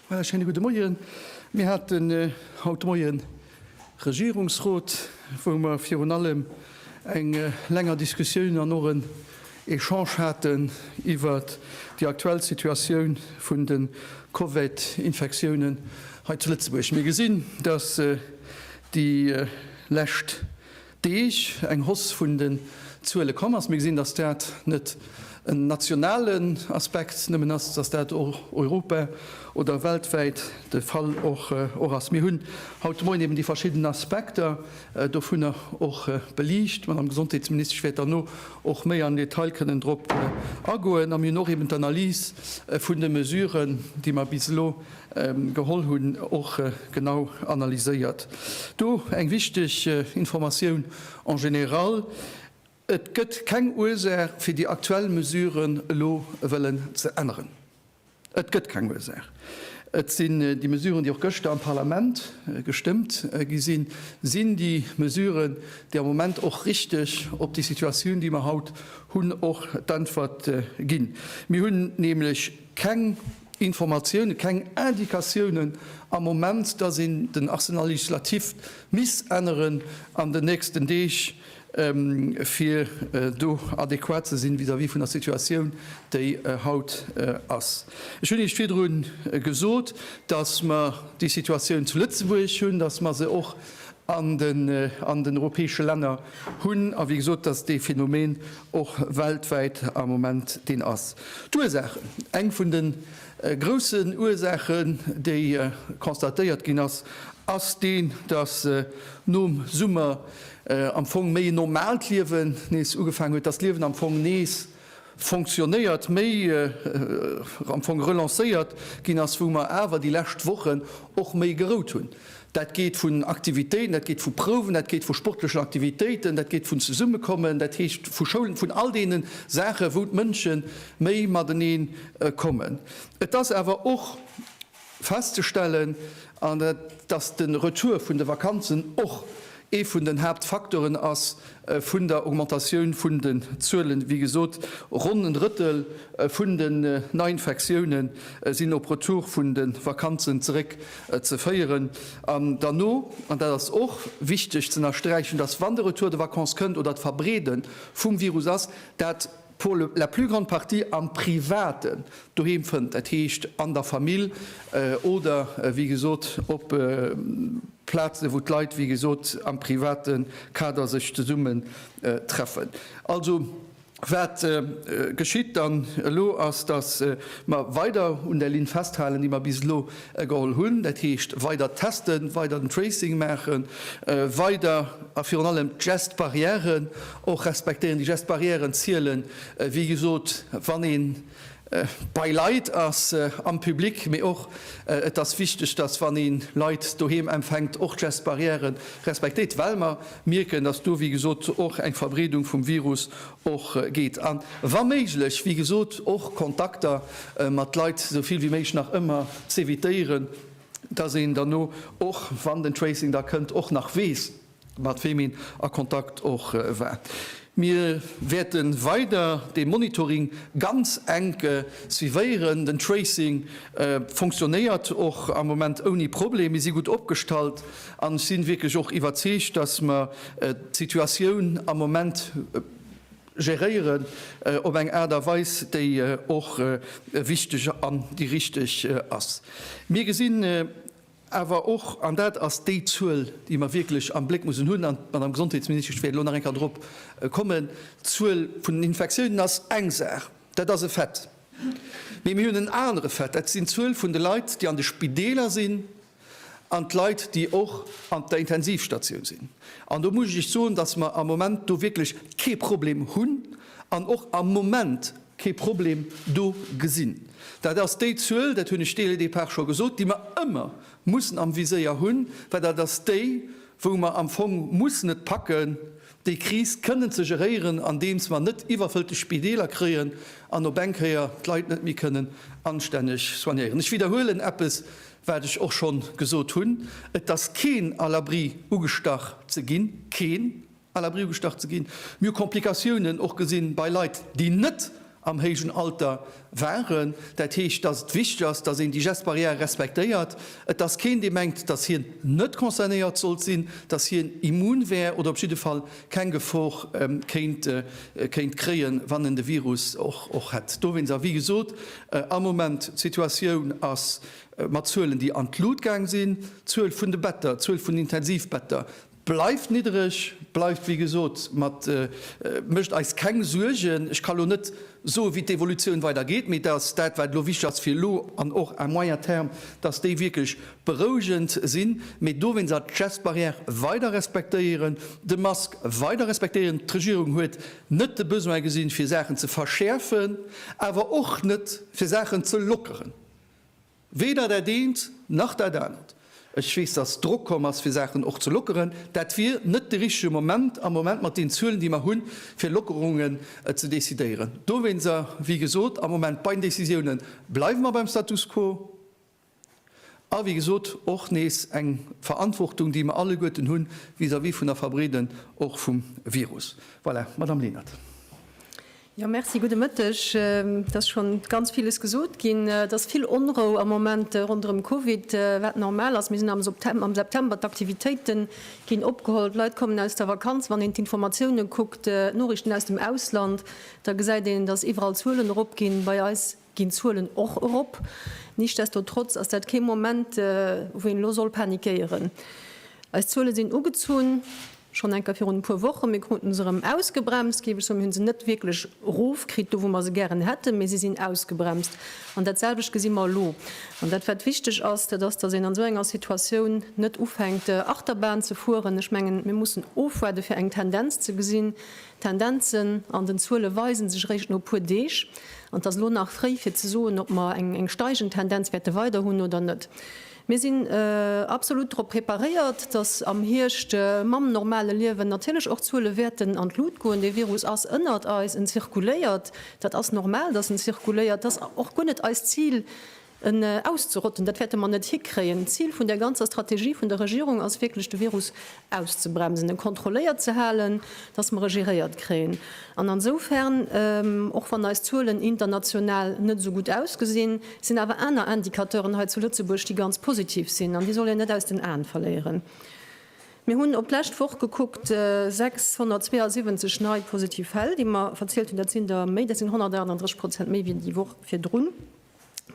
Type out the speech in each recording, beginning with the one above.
Voilà, schöne gute Moien. Mir hatten äh, haut Moien Regierungsrot, wou mer virun allem eng länger Diskussioun an och en Echange haten iwwer déi aktuell Situatioun vun de Covid-Infektiounen hei zu Lëtzebuerg. Mir gesinn, dass déi lescht. Deeg eng Hausse vun den Zuele komm ass. Mir gesinn, dass dat net en nationalen Aspekt nëmmen ass, dass dat europa oder weltwäit de Fall och ass. Mir hunn haut de Moien eben déi verschidden Aspekter dovunner och beliicht. D'Madame Gesondheetsministesch wäert derno och méi am Detail kënnen drop agoen. A mir hunn och eben d'Analys vun de Mesuren, déi mer bis elo Geholl hunn, och genau analyséiert. Do eng wichteg Informatioun en général, Et gëtt keng Ursaach fir déi aktuell Mesuren elo wëllen ze änneren. Et gëtt keng Ursaach. Et sinn déi Mesuren, déi och gëschter am Parlament gestëmmt gi sinn, sinn déi Mesuren, déi am Moment och richteg op déi Situatioun, déi mer haut hunn, och d'Äntwert ginn. Mir hunn nämlech. Keng Informatiounen, keng Indikatiounen am Moment, dass een den Acte législatif misst änneren an den nächsten Deeg, fir do adequat ze sinn vis-à-vis vun der Situatioun, déi haut ass. Ech hunn Iech virdru gesot, dass mer déi Situatioun zu Lëtzebuerg hunn, dass mer se och an den europäesche Länner hunn, a wéi gesot, dass dee Phänomen och weltwäit am Moment deen ass. D'Ursaachen, eng vun de groussen Ursaachen, déi constatéiert ginn ass, ass déi, dass nom Summer am Fong méi en normaalt Liewen nees ugefaangen huet, dass d'Liewen am Fong nees, fonctionnéiert, méi am Fong relancéiert ginn ass, wou mer awer déi lescht Wochen och méi gerout hunn. Dat geet vun Aktivitéiten, dat geet vu Prouwen, dat geet vu sportlechen Aktivitéiten, dat geet vun Zesummekommen, dat heescht vu Schoulen, vun all deene Saachen, wou d'Mënsche méi matenee kommen. Et ass awer och festzestellen, an dass de Retour vun de Vakanzen och ee vun den Haaptfacteuren ass vun der Augmentatioun vun den Zuelen. Wéi gesot, ronn en Drëttel vun den Neiinfektioune sinn op Retour vun de Vakanzen zeréck ze féieren. An derno, an dat ass och wichteg z'ënnersträichen, dass, wann de Retour de vacances kënnt oder d'Verbreede vum Virus ass, dat, pour la plus grande partie am Privaten doheem fënnt, dat heescht an der Famill oder wéi gesot op Plazen, wou d'Leit wéi gesot am private Kader sech zesummen treffen. Also wat geschitt dann elo ass, datt mer weider un där Linn festhalen, déi mer bis elo geholl hunn, dat heescht weider testen, weider den Tracing maachen, weider a virun allem d'Gest barrièren Och respektéieren déi Gestes barrièren zielen, wéi gesot, wann ee bei Leit ass am Public, mee och et ass wichteg, dass wann ee Leit doheem empfänkt, och d'Gestes barrièren respektéiert, well mer mierken, dass do, wéi gesot, och eng Verbreedung vum Virus och geet a wa méiglech, wéi gesot, och Kontakter mat Leit esou vill wéi méiglech nach ëmmer z'evitéieren, dass een derno och, wann den Tracing da kënnt, och nach weess, mat weem een a Kontakt och war. Mir wäerte weider de Monitoring ganz enk suivéieren. Den Tracing funktionéiert och am Moment ouni Problem. Mir si gutt opgestallt an ech si wierklech och iwwerzeegt, dass mer d'Situatioun am Moment geréieren op eng Aart a Weis, déi och wichteg an déi richteg ass. Mir gesinn, Awer och, an dat ass déi Zuel, déi mer wierklech am Bléck mussen hunn, an d'Madame Gesondheetsministesch wäert elo nach eng Kéier dorop kommen, d'Zuel vun den Infektiounen ass eng Saach, dat ass e Fait. Mee mir hunn en anere Fait, dat sinn d'Zuel vun de Leit, déi an de Spideeler sinn, an d'Leit, déi och an der Intensivstatioun sinn. An do muss ech Iech soen, dass mer am Moment do wierklech kee Problem hunn, an och am Moment kee Problem do gesinn. Dat ass déi Zuel, dat hunn ech dès le départ scho gesot, déi mer ëmmer mussen am Viséier hunn, well dat ass déi, wou mer am Fong mussen et packen, déi Kris kënnen ze geréieren, andeems mer net iwwerfëllte Spideeler kréien an op eng Kéier d'Leit net méi kënnen anstänneg soignéieren. Ech widderhuelen eppes, wat ech och schonn gesot hunn, Et ass keen à l'abri, ugestach ze ginn, keen! à l'abri ugestach ze ginn. Mir hu Komplikatiounen och gesinn bei Leit, déi net am héijen Alter waren. Dat heescht, dass et wichteg ass, dass een déi Gestes barrières respektéiert. Et ass keen, dee mengt, dass hien net concernéiert sollt sinn, dass hien immun wär oder op jidde Fall keng Gefor kéint kréien, wann en de Virus och hätt. Dowéinst, a wéi gesot, am Moment, d'Situatioun ass mat Zuelen, déi an d'Lut gaang sinn, d'Zuel vun de Better, d'Zuel vun Intensivbetter, Bleift niddereg, bleift wéi gesot, mat mécht eis keng Suergen. Ech ka elo net soe wéi d'Evolutioun weider geet, mee datt dat wat elo wichteg ass fir elo an och à moyen terme, datt déi wierklech berouegend sinn, mee dowéinst awer d'Gestbarrière weider respektéieren, de Mask weider respektéieren. D'Regierung huet net de Besoin gesinn, fir Saachen ze verschäerfen, awer och net fir Saachen ze lockeren. Weder dat eent nach dat anert. Ech weess, dass Drock komm ass, fir Saachen och ze lockeren. Dat wier net de richtege Moment am Moment mat den Zuelen, déi mer hunn, fir Lockerungen ze decidéieren. Dowéinster, wéi gesot, am Moment bei den Decisiounen bleiwe mer beim Status quo. A wéi gesot, och nees eng Verantwortung, déi mer alleguerten hu vis-à-vis vun der Verbreeden och vum Virus. Voilà, Madame Lenert. Jo, Merci, gudde Mëtteg. Et ass scho ganz villes gesot ginn. Et ass vill Onrou am Moment ronderëm Covid, wat normal ass. Mir sinn am September, d'Aktivitéite ginn opgeholl, d'Leit kommen aus der Vakanz. Wann een d'Informatiounen kuckt, d'Noriichten aus dem Ausland, da gesäit een, dass iwwerall d'Zuelen eropginn. Bei eis Ginn d'Zuelen och erop. Nichtsdestotrotz ass dat kee Moment, wou een elo soll panikéieren. Eis Zuele sinn ugezunn, schonn enker virun e puer Wochen. Mir kruten se erëm ausgebremst, géif ech soen. Mir hunn se net wierklech erofkritt, do wou mer se gären hätten, mee se sinn ausgebremst. An datselwecht gesi mer elo. An dat, wat wichteg ass, dat ass, datt een an esou enger Situatioun net ufänkt, Achterbahn ze fueren. Ech mengen, mir mussen ofwaarden, fir eng Tendenz ze gesinn. D'Tendenzen an den Zuele weise sech eréischt no e puer Deeg, an et ass elo nach fréi fir ze soen, ob mer eng steigend Tendenz wäerte weider hunn oder net. Mir sinn absolut drop preparéiert, datt am Hierscht mam normale Liewen natierlech och d'Zuele wäerten an d'Lut goen. Dee Virus ass ënnert eis, en zirkuléiert, dat ass normal, datt en zirkuléiert. Et ass och guer net eist Zil, En auszerotten, dat wäerte mer net hikréien. D'Zil vun där ganzer Strategie vun der Regierung ass wierklech, de Virus auszebremsen, e kontrolléiert ze halen, dass mer e geréiert kréien. An ansoufern, och wann eis Zuelen international net esou gutt ausgesinn, sinn awer aner Indicateuren hei zu Lëtzebuerg, déi ganz positiv sinn. An déi soll een net aus den Aen verléieren. Mir hunn op d'lescht Woch gekuckt, 672 nei positiv Fäll, déi mer verzielt hunn. Dat sinn der méi, dat sinn 138 Prozent méi wéi déi Woch virdrun.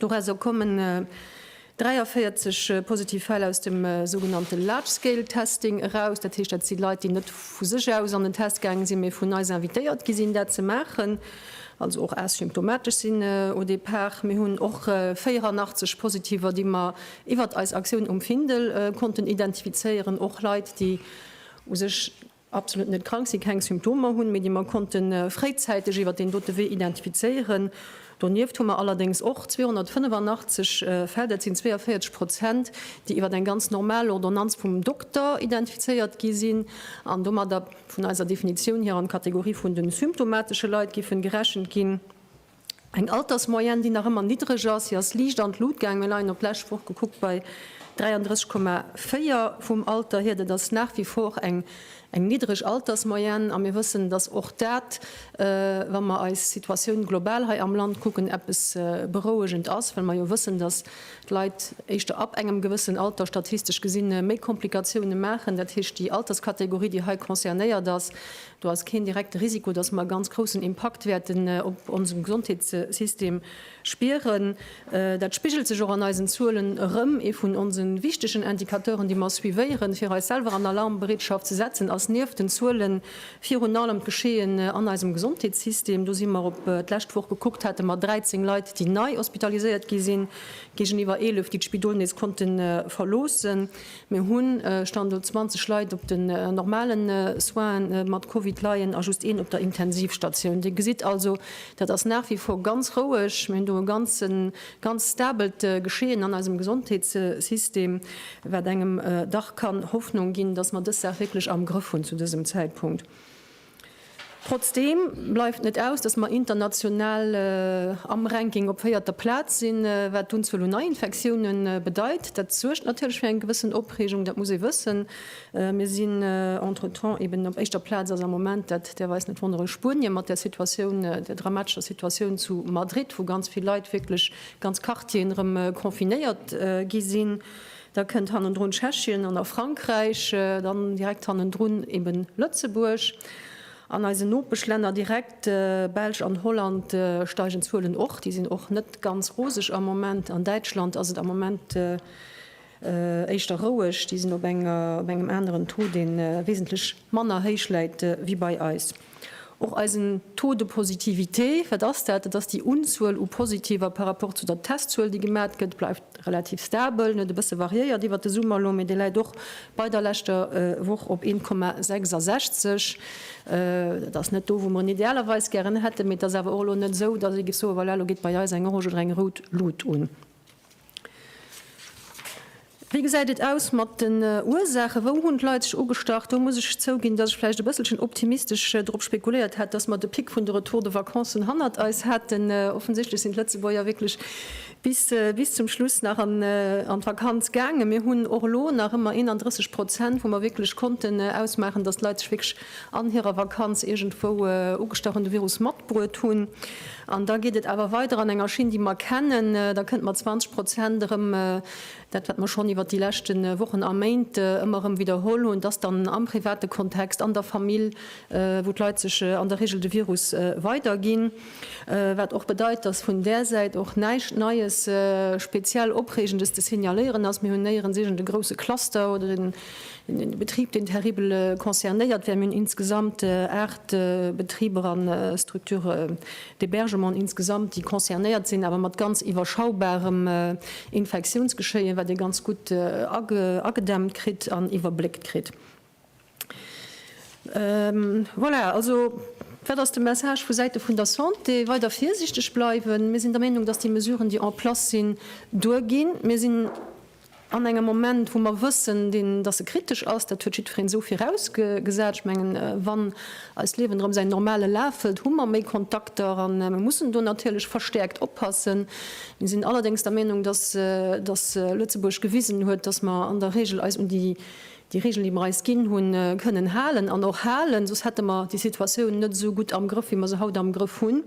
Dorausser kommen 43 positiv Fäll aus dem sougenannte Large Scale Testing eraus. Dat heescht, dat si Leit, déi net vu sech aus an den Test gaange sinn, mee vun eis invitéiert gi sinn, dat ze maachen, also och asymptomatesch sinn au départ. Mir hunn och 84 Positiver, déi mer iwwert eis Aktioun um Findel konnten identifizéieren, och Leit, déi u sech absolut net krank sinn, keng Symptomer hunn, mee déi mer konnte fréizäiteg iwwert deen dote Wee identifizéieren. Donieft hu mer allerdéngs och 285 Fäll, dat sinn 42 Prozent, déi iwwert eng ganz normal Ordonnanz vum Dokter identifizéiert gi sinn an domadder vun eiser Definitioun hier an d'Kategorie vun de symptomatesche Leit géife gerechent ginn. Eng Altersmoyenne, déi nach ëmmer niddreg ass. Si ass liicht an d'Lut gaangen. Mir leien op d'lescht Woch gekuckt bei 33,4 vum Alter hier. Dat ass nach wie vor eng niddreg Altersmoyenne. A mir wëssen, dass och dat, wa mer eis Situatioun global hei am Land kucken, eppes berouegend ass, well mer jo wëssen, dass d'Leit éischter ab engem gewëssen Alter statistesch gesi méi Komplikatiounen maachen. Dat heescht, déi Alterskategorie, déi hei concernéiert ass, Do ass keen direkte Risiko, dass mer e ganz groussen Impakt wäerten op onsen Gesondheetssystem spieren. Dat spigelt sech och an eisen Zuelen erëm. Ee vun onse wichtegen Indicateuren, déi mer suivéieren, fir eis selwer an Alarmbereetschaft ze setzen, ass nieft den Zuelen virun allem d'Geschehen an eisem Gesondheetssystem. Do si mer, op d'lescht Woch gekuckt, hate mer 13 Leit, déi nei hospitaliséiert gi sinn, géigeniwwer 11, déi d'Spidol nees konnte verloossen. Mir hu Stand elo 20 Leit op den normale Soinen, déi mat Covid leien, a just een op der Intensivstatioun. Dir gesitt also, dat ass nach wie vor ganz roueg. Mir hunn do e ganz stabelt Geschehen an eisem Gesondheetssystem, wat engem dach kann Hoffnung ginn, dass mer dës Saach wierklech am Grëff hunn zu dësem Zäitpunkt. Trotzdeem bleift net aus, dass mer international am Ranking op véierter Plaz sinn, wat d'Unzuel un Neiinfektioune bedeit. Dat suergt natierlech fir eng gewëssen Opreegung, dat muss ee wëssen. Mir sinn entretemps eben op éischter Plaz ass am Moment, dat däerf eis net wonneren, Spuenie mat der Situatioun, der dramatescher Situatioun zu Madrid, wou ganz vill Leit, wierklech ganz Quartieren erëm confinéiert gi sinn. Da kënnt hannendrun Tschechien an da Frankräich, dann direkt hannendrun eben Lëtzebuerg. An eisen Nopeschlänner direkt, Belsch an Holland, steigen d'Zuelen och. Déi sinn och net ganz roseg am Moment. An Däitschland ass et am Moment éischter roueg. Déi sinn op engem aneren Taux, dee wesentlech manner héich läit wéi bei eis. Och eisen Taux de positivité, wat ass dat? Dat ass déi Unzuel u Positiver par rapport zu der Testzuel, déi gemat gëtt, bleift relativ stabel. En huet e bësse variéiert iwwert de Summer elo, mee dee läit och bei der leschter Woch op 1,66. Dat ass net do, wou mer en idealerweis gären hätten, mee et ass awer och elo net esou, dass ee géif soen, Voilà, elo geet bei eis eng orange oder eng rout Lut un. Wéi gesäit et aus mat den Ursaachen? Wou hunn d'Leit sech ugestach? Do muss ech zouginn, dass ech vläicht e bësselchen optimistesch drop spekuléiert hat, dass mer de Pic vun de Retour de vacancen hannert eis hätten. Offensichtlech sinn d'Lëtzebuerger wierklech bis zum Schluss nach an d'Vakanz gaangen. Mir hunn och elo nach ëmmer 31 Prozent, wou mer wierklech konnten ausmaachen, dass d'Leit sech wierklech an hirer Vakanz iergendwou ugestach an de Virus matbruet hunn. An da geet et awer weider an enger Schinn, déi mer kennen. Da kënnt mat 20 Prozent erëm dat, wat mer schonn iwwert déi leschte Wochen a Méint ëmmer erëm widderholl hunn, dass dann am private Kontext, an der Famill, wou d'Leit sech an der Regel de Virus weiderginn. Wat och bedeit, dass vun där Säit och näischt Neies, speziell Opreegendes ze signaléieren ass. Mir hunn néierens iergende grousse Cluster oder den De Betrib, deen terribel concernéiert wär. Mir hunn insgesamt aacht Betriber a Structurë d'hébergement insgesamt, déi concernéiert sinn, awer mat ganz iwwerschaubarem Infektiounsgeschéie wat ee ganz gutt agedämmt kritt an iwwerbléckt kritt. Voilà, also wat ass de Message vu Säite vun der Santé? Weider virsiichteg bleiwen. Mir sinn der Meenung, datt déi Mesuren, déi en place sinn, duerginn. Mir sinn. An engem Moment, wou mer wëssen, deen, dass e kritesch ass, dat huet jiddwereen esou virausgesat. Ech mengen, wann eist Liewen erëm säin normale Laf hëlt, hu mer méi Kontakter a mer mussen do natierlech verstäerkt oppassen. Mir sinn allerdéngs der Meenung, dass Lëtzebuerg gewisen huet, dass mer an der Regel eis un déi déi Regeln, déi mer eis ginn hunn, kënnen halen an och halen, soss hätte mer déi Situatioun net esou gutt am Grëff, wéi mer se haut am Grëff hunn.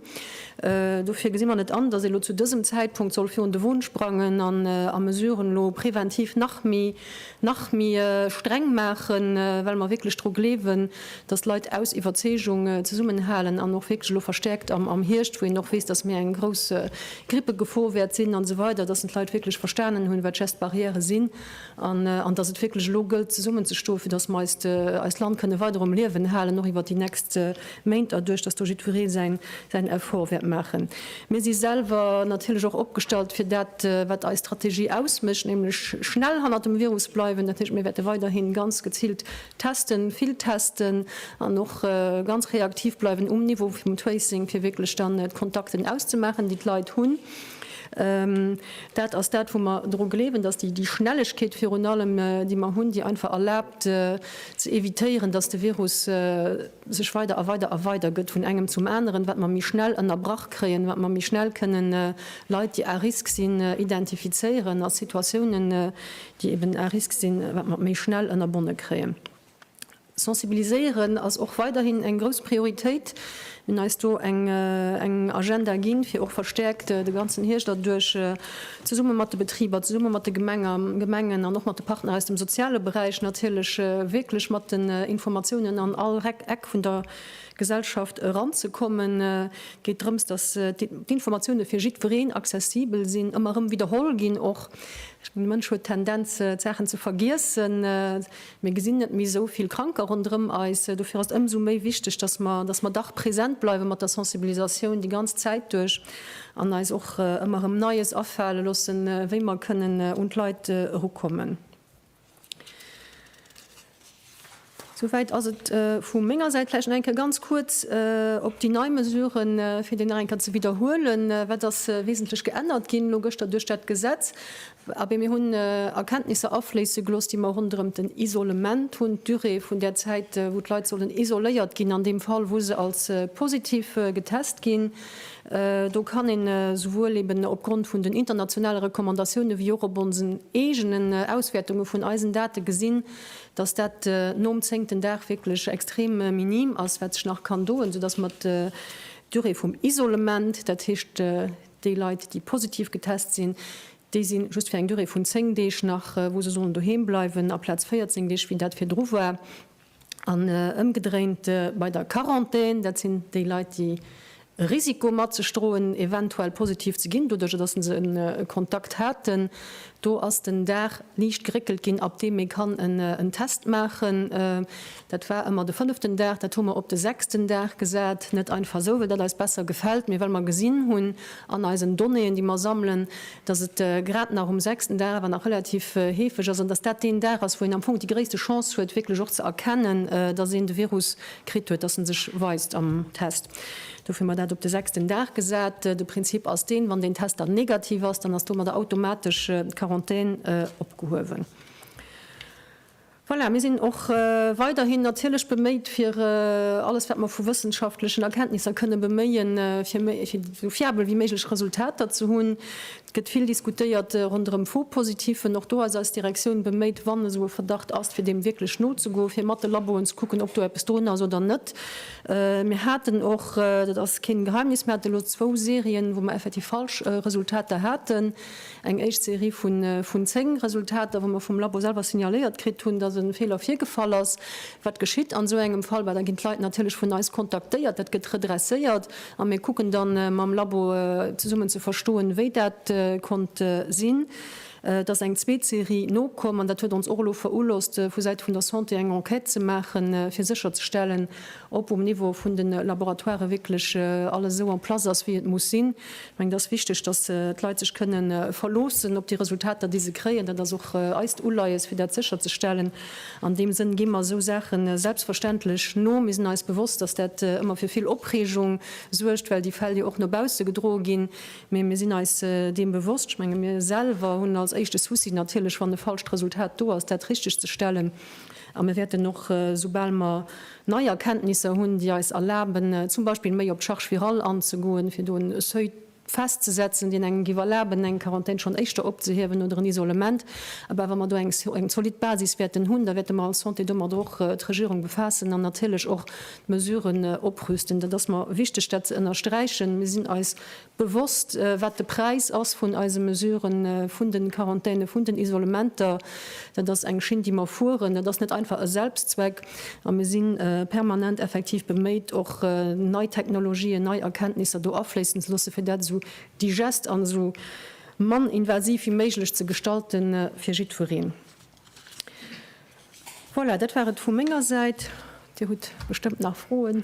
Dofir gesi mer net an, dass ee lo zu dësem Zäitpunkt soll virun de Won sprangen an a Mesuren elo präventiv nach méi, nach méi streng maachen, well mer wierklech dru gleewen, dass d'Leit aus Iwwerzeegung zesummenhalen an och wierklech elo verstäerkt am, am Hierscht, wou een och weess, dass méi eng grouss Grippegefor wäert sinn, an esou weider, dass d'Leit wierklech verstanen hunn, wat d'Geste barrière sinn. an dass et wierklech elo gëllt zesummenzestoen, fir dass mer eist Land kënne weider um Liewen halen, och iwwert déi nächst Méint, doduerch dass do jiddweree säin Effort wäert maachen. Mir si selwer natierlech och opgestallt fir dat, wat eis Strategie ausmécht, nämlech schnell hannert dem Virus bleiwen. Dat heescht, mir wäerte weiderhi ganz geziilt testen, vill testen an och ganz reaktiv bleiwen um Niveau vum Tracing, fir wierklech dann d'Kontakten auszemaachen, déi d'Leit hunn. Dat ass dat, wou mer dru gleewen, datt déi Schnellegkeet virun allem, déi mer hunn, déi einfach erlaabt ze evitéieren, datt de Virus sech weider a weider a weider gëtt vun engem zum aneren, wat mer méi schnell ënnerbrach kréien, wat mer méi schnell kënnen Leit, déi à risque sinn, identifizéieren a Situatiounen, déi eben à risque sinn, wat mer méi schnell ënnerbonne kréien. Sensibiliséieren ass och weiderhin eng grouss Prioritéit. Mir hunn eis do eng Agenda ginn, fir och verstäerkt de ganzen Hierscht erduerch zesumme mat de Betriber, zesumme mat de Gemengen an och mat de Partner aus dem soziale Beräich natierlech wierklech mat den Informatiounen an all Eck vun der Gesellschaft eranzekommen. Et geet drëms, datt d'Informatioune fir jiddwereen accessibel sinn, ëmmer erëm widderholl ginn och. De Mënsch huet d'Tendenz, d'Saachen ze vergiessen. Mir gesinn net méi esou vill Kranker ronderëm eis. Dofir ass et ëmsou méi wichteg, dass mer, dass mer dach present bleiwe mat der Sensibilisatioun déi ganz Zäit duerch an eis och ëmmer erëm Neies afale loossen, wéi mer kënnen un d'Leit erukommen. Souwäit ass et vu menger Säit. Vläicht nach eng Kéier ganz kuerz op déi nei Mesuren, fir déi nach eng Kéier ze widderhuelen, Wat ass wesentlech geännert ginn elo gëschter duerch dat Gesetz? Abee, mir hunn Erkenntnisser afléisse gelooss, déi mer ronderëm den Isolement hunn, d'Durée vun där Zäit, wou d'Leit sollen isoléiert ginn, an deem Fall, wou se als positiv getest ginn. Do kann een souwuel eeben opgrond vun den internationale Recommandatioune wéi och op onsen eegenen Auswäertunge vun eisen Date gesinn, dass dat nom zéngten Dag wierklech extrem minim ass, wat sech nach kann doen, soudass mer d'Durée vum Isolement, dat heescht, Déi Leit, déi positiv getest sinn, déi si just fir eng Durée vun 10 Deeg nach, wou se sollen doheem bleiwen, aplaz 14 Deeg, wéi dat virdru war. An ëmgedréint bei der Quarantän, dat sinn déi Leit, déi e Risiko mat sech droen, eventuell positiv ze ginn, doduerch datt se e Kontakt haten. Do ass den Dag liicht geréckelt ginn, ab deem ee kann en Test maachen. Dat war ëmmer de fënneften Dag, dat hu mer op de sechsten Dag gesat, net einfach esou, well dat eis besser gefält, mee well mer gesinn hunn an eisen Donnéeën, déi mer sammelen, dass et grad nach um sechsten Dag awer nach relativ heefeg ass an dass dat deen Dag ass, wou een am Fong déi gréisste Chance huet, wierklech och ze erkennen, dass een de Virus kritt huet, dass e sech weist am Test. Dofir hu mer dat op de sechsten Dag gesat. De Prinzip ass deen, wann deen Test dann negativ ass, dann ass domadder automatesch d'Quarantän opgehuewen. Voilà, mir sinn och weiderhin natierlech beméit, fir alles, wat mer vu wëssenschaftlechen Erkenntnisser kënnen beméien, fir esou fiabel wéi méiglech Resultater ze hunn. Et gëtt vill diskutéiert ronderëm Faux-Positifen. Och do ass eis Direktioun beméit, wann esou e Verdacht ass, fir deem wierklech nozegoen, fir mat de Laboen ze kucken, ob do eppes drun ass oder net. Mir haten och, dat ass keen Geheimnis, mir hate lo zwou Serien, wou mer effektiv falsch Resultater haten. Eng éischt Serie vun 10 Resultater, wou mer vum Labo selwer signaléiert kritt hunn, dass e Feeler virgefall ass. Wat geschitt an esou engem Fall? Well da ginn d'Leit natierlech vun eis kontaktéiert, dat gëtt redresséiert a mir kucken da mam Labo zesummen ze verstoen, wéi dat konnt sinn. Et ass eng zweet Serie nokomm an dat huet ons och elo verohlosst, vu Säite vun der Santé eng Enquête ze maachen, fir sécherzestellen, ob um Niveau vun de Laboratoiren wierklech alles esou en place ass, wéi et muss sinn. Ech mengen, et ass wichteg, dass d'Leit sech kënne verloossen op déi Resultater, déi se kréien. Dat ass och eist Uleies, fir dat sécherzestellen. An deem Sënn gi mer esou Saache selbstverständlech no. Mir sinn eis bewosst, dass dat ëmmer fir vill Opreegung suergt, well déi Fäll jo och no bausse gedroe ginn. Mee mir sinn eis deem bewosst. Ech menge mir selwer hunn als éischte Souci natierlech, wann e falscht Resultat do ass, dat richteg ze stellen. A mir wäerten och, soubal mer nei Erkenntnisser hunn, déi eis erlaben, zum Beispill méi op d'Charge virale anzegoen, fir do en Seuil festzesetzen, deen engem giff erlaben, eng Quarantän schonn éischter opzehiewen oder en Isolement, ebe wa mer do eng zolidd Basis wäerten hunn, da wäerte mer als Santé domadder och d'Regierung befaassen an natierlech och d'Mesuren oprüsten. Dat ass mer wichteg, dat ze ënnersträichen. Mir sinn eis Bewosst, wat de Präis ass vun eise Mesuren, vun den Quarantänen, vun den Isolementer. Dat ass eng Schinn, déi mer fueren. Dat ass net einfach e Selbstzweck. A mir si permanent effektiv beméit, och nei Technologien, nei Erkenntnisser do afléissen ze loossen, fir dat esou digest an esou mann invasiv wéi méiglech ze gestalten fir jiddwereen. Voilà, dat war et vu menger Säit. Dir hutt bestëmmt nach Froen.